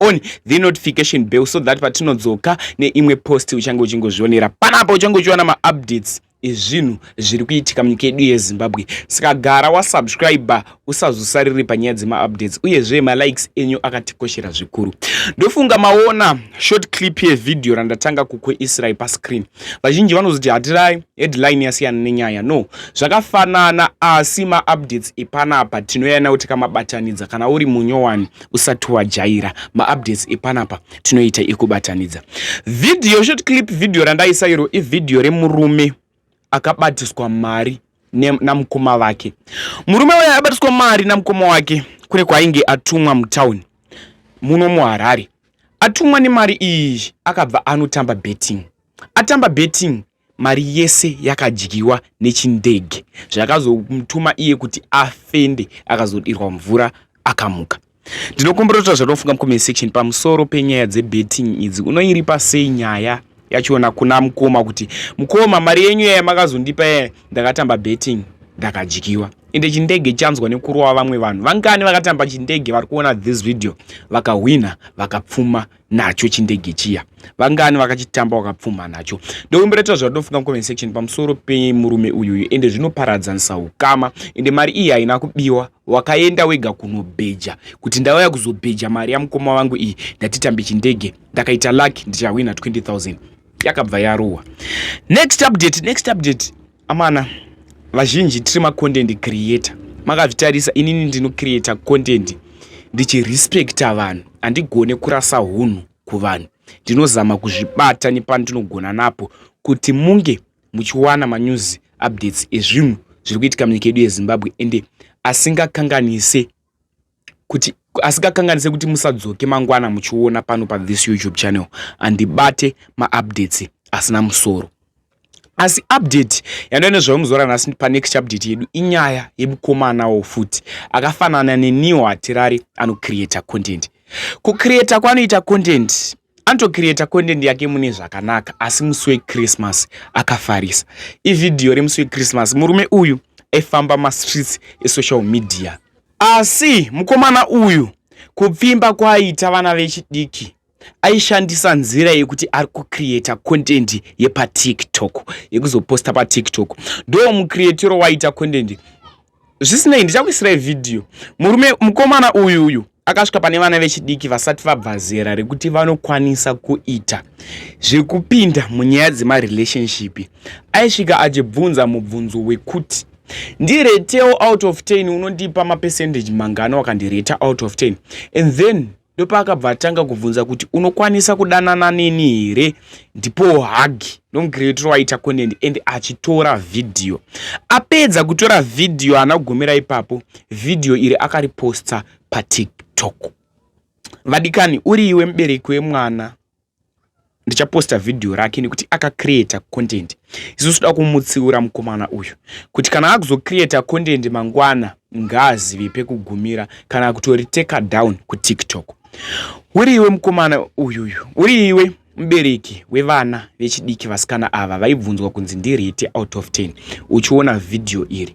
on the notification bell so that patinodzoka neimwe post uchange uchingozvionera panapa uchange uchiwana maupdates ezvinhu zviri kuitika munyika yedu yezimbabwe saka gara wasubscribe usazosariri panyaya dzemaupdates uyezve malikes enyu akatikoshera zvikuru ndofunga maona short clip yevhidhiyo randatanga kukuisirai pascreen vazhinji vanozoti hatirai headline yasiyana nenyaya no zvakafanana asi maupdates epanapa tinoyana kuti kamabatanidza kana uri munyowani usati wajaira maupdates epanapa tinoita ekubatanidza video short clip video randaisa iro ivideo remurume akabatiswa mari namukoma vake murume uya abatiswa mari namukoma wake kune kwainge atumwa mutown muno muharare atumwa nemari iyi akabva anotamba betting atamba betting mari yese yakadyiwa nechindege zvakazomutuma iye kuti afende akazodirwa mvura akamuka ndinokomborota zvatinofunga mucomment section pamusoro penyaya dzebetting idzi unoiripa sei nyaya yachiona kuna mukoma kuti mukoma mari yenyu yaya makazondipa yaya ndakatamba betting ndakadyiwa ende chindege chanzwa nekurova vamwe vanhu vangani vakatamba chindege vari kuona this video vakahwina vakapfuma nacho chindege chiya vangani vakachitamba wakapfuma nacho ndokumbereta zvauri ndofunga mucomment section pamusoro pemurume uyuyu ende zvinoparadzanisa ukama ende mari iyi haina kubiwa wakaenda wega kunobheja kuti ndauya kuzobheja mari yamukoma vangu iyi ndatitambe chindege ndakaita luck ndichahwina 20000 yakabva yarohwa next update next update Amana vazhinji tiri macontent creator makazvitarisa inini ndinocreata content ndichirespecta vanhu handigone kurasa unhu kuvanhu ndinozama kuzvibata nepandinogona napo kuti munge muchiwana manews updates ezvinhu zviri kuitika munyika yedu yezimbabwe ende asingakanganise kuti asikakanganise kuti musadzoke mangwana muchiona pano pa this youtube channel andibate maupdates asina musoro asi update yandove nezvayo muzora nhasi panext update yedu inyaya yemukomanawo futi akafanana neniwo hatirari anocreata content kucreata kwanoita content Anotocreata content yake mune zvakanaka asi musi wechristmas akafarisa. Ivhidhiyo remusi wechristmas murume uyu aifamba mastreets esocial media. Asi mukomana uyu kupfimba kwaaita vana vechidiki aishandisa nzira yekuti ari kucreata content yepatiktok yekuzoposta patiktok ndo mucreatiro waiita content zvisinei ndichakuisirai vhidhiyo murume mukomana uyu uyu akasvika pane vana vechidiki vasati vabva zera rekuti vanokwanisa kuita zvekupinda munyaya dzemarelationship aisvika achibvunza mubvunzo wekuti ndiretewo out of ten unondipa mapercentage mangano wakandireta out of ten and then ndopaakabva atanga kubvunza kuti unokwanisa kudanana neni here ndipo hagi ndomucreator waita content and achitora vhidhiyo apedza kutora vhidhiyo haana kugomera ipapo vhidhiyo iri akariposta patiktok vadikani uri iwe mubereki wemwana ndichaposta vhidhiyo rake nekuti akacreata content isusu toda kumutsiura mukomana uyu kuti kana akuzocreata content mangwana ngaazive pekugumira kana kutoriteka down kutiktok uri iwe mukomana uyuyu uri iwe mubereki wevana vechidiki vasikana ava vaibvunzwa kunzi ndirite out of 10 uchiona vhidhiyo iri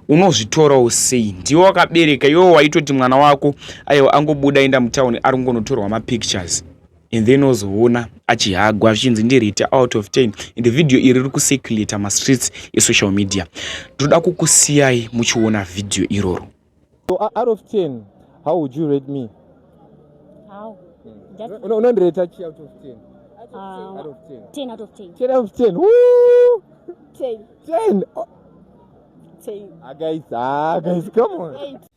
unozvitorawo sei ndiwo wakabereka iwo waitoti mwana wako aiwa angobuda enda mutauni ari kungonotorwa mapictures and then ozoona achihagwa zvichinzi ndirite out of ten and video iri riri kucirculata mastreets esocial media ndoda kukusiyai muchiona video iroro so out of ten how would you rate me unondireta chi out of ten uh, out of ten ten out of ten ten out of ten ten ten oh. ten agaisa agaisa come on Eight.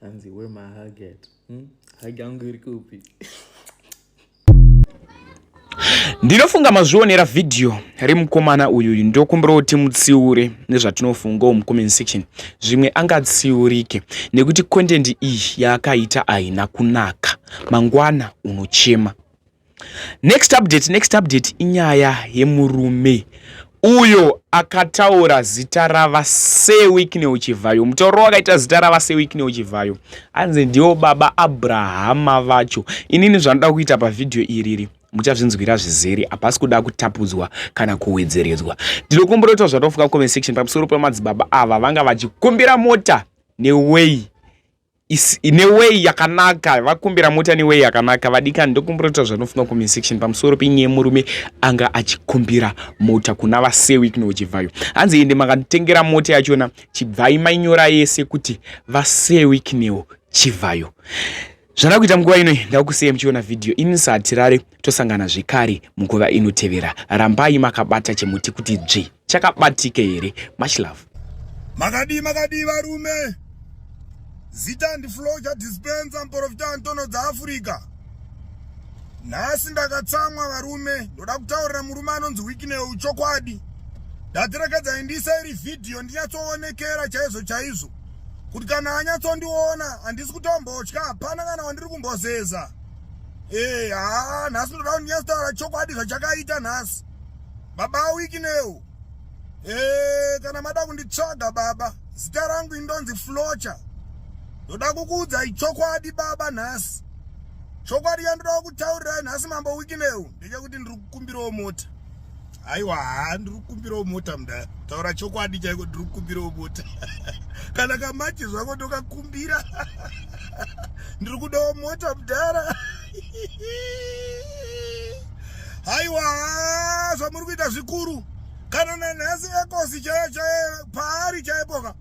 hanzi where my hug at hmm? hug yangu iri kupi ndinofunga mazvionera vhidhiyo remukomana uyuyu ndokumbira kuti mutsiure nezvatinofungawo mucomment section zvimwe angatsiurike nekuti content iyi yaakaita ahina kunaka mangwana unochema Next update, next update inyaya yemurume uyo akataura zita rava sewikneo chivhayo mutauro wakaita zita rava sewikneo chivhayo anzi ndiwo baba abrahama vacho inini zvanoda kuita pavhidhiyo iriri muchazvinzwira zvizere hapasi kuda kutapudzwa kana kuwedzeredzwa ndinokumbira kuti zvatofuka comment section pamusoro pemadzibaba ava vanga vachikumbira mota neway is in a way yakanaka vakumbira mota ne way yakanaka vadikani ndokumbira kuti zvanofunga comment section pamusoro penyaya yemurume anga achikumbira mota kuna vasewi kuno chibvayo hanzi ende makatengera mota yachona chibvai mainyora yese kuti vasewi kunewo chivhayo zvana kuita munguva ino ndakusiya muchiona vhidhiyo ini ndisatirare tosangana zvekare munguva inotevera rambai makabata chemuti kuti dzvi chakabatika here much love makadii makadii varume zita ndifloja dispensa muprofita antono dzaafrica nhasi ndakatsamwa varume ndoda kutaurira murume anonzi wikineu chokwadi ndatirekedza indisa iri vhidhiyo ndinyatsoonekera chaizvo chaizvo kuti kana anyatsondiona handisi kutombotya hapana kana wandiri kumbozeza ee eh, haa nhasi ndoda kuti ndinyatsotaura chokwadi zvachakaita nhasi baba awiki newo ee kana mada kunditsvaga baba zita rangu indonzi flocha ndoda kukuudzai chokwadi baba nhasi chokwadi yandoda kutaurirai nhasi mambo wiki newo ndechekuti ndiri kukumbirawo mota aiwa haa ndiri kukumbirawo mota mda taura chokwadi chaiko ndiri kukumbirawo mota kana kamachi zvako ndokakumbira ndiri kudawo mota mdara haiwa zvamuri kuita zvikuru kana nanhasi ekosi chaiyo chaiyo paari chaipoka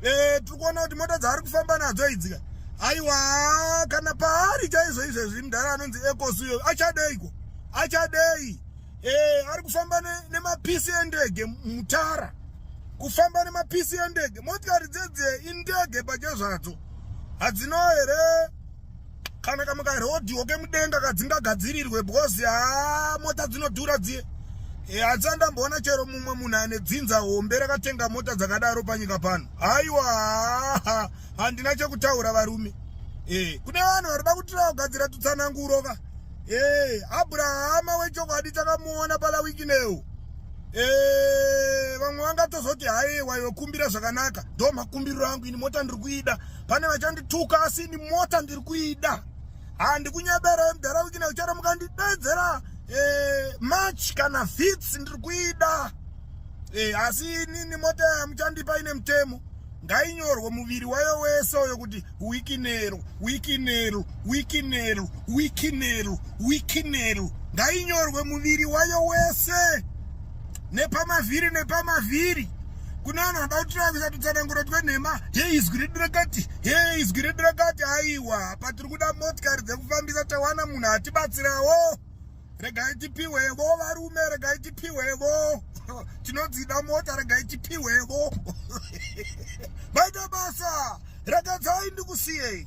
e, eh, tiri kuona kuti mota dzaari kufamba nadzo idzika haiwa kana paari chaizvo izvezvi mudhara anonzi ekosi uyo achadeiko achadei e, ari kufamba nemapisi ne endege mutara kufamba nemapisi endege motikari dzedze indege pache zvadzo hadzino here kana kamwe karodhiwo kemudenga kadzinga gadzirirwe because haa mota dzinodhura dziye e, hadzisa ndamboona chero mumwe munhu ane dzinza hombe rakatenga mota dzakadaro panyika pano haiwa handina chekutaura varume e, kune vanhu varida kutira kugadzira tutsananguro ka e, abrahama wechokwadi takamuona pala wikinewo e, vamwe vangatozoti haiwa yokumbira zvakanaka ndo makumbiriro angu ini mota ndiri kuida pane vachandituka asi ini mota ndiri kuida handikunyebere mdara wikina uchara mukandidedzera eh, march kana fits ndiri kuida eh, asi inini mota yamuchandipa ine mutemo ngainyorwe muviri wayo wese uyo kuti wikinero wikinero wikinero wikinero wikinero ngainyorwe muviri wayo wese nepamavhiri nepamavhiri kune vanhu vanoda kutora kuisa tutsananguro twenhema he izwi redu rakati he izwi redu rakati aiwa patiri kuda motikari dzekufambisa tawana munhu atibatsirawo regai tipiwevo varume regai tipiwevo tinodzida mota regai tipiwevo maita basa rakatsai ndikusiyei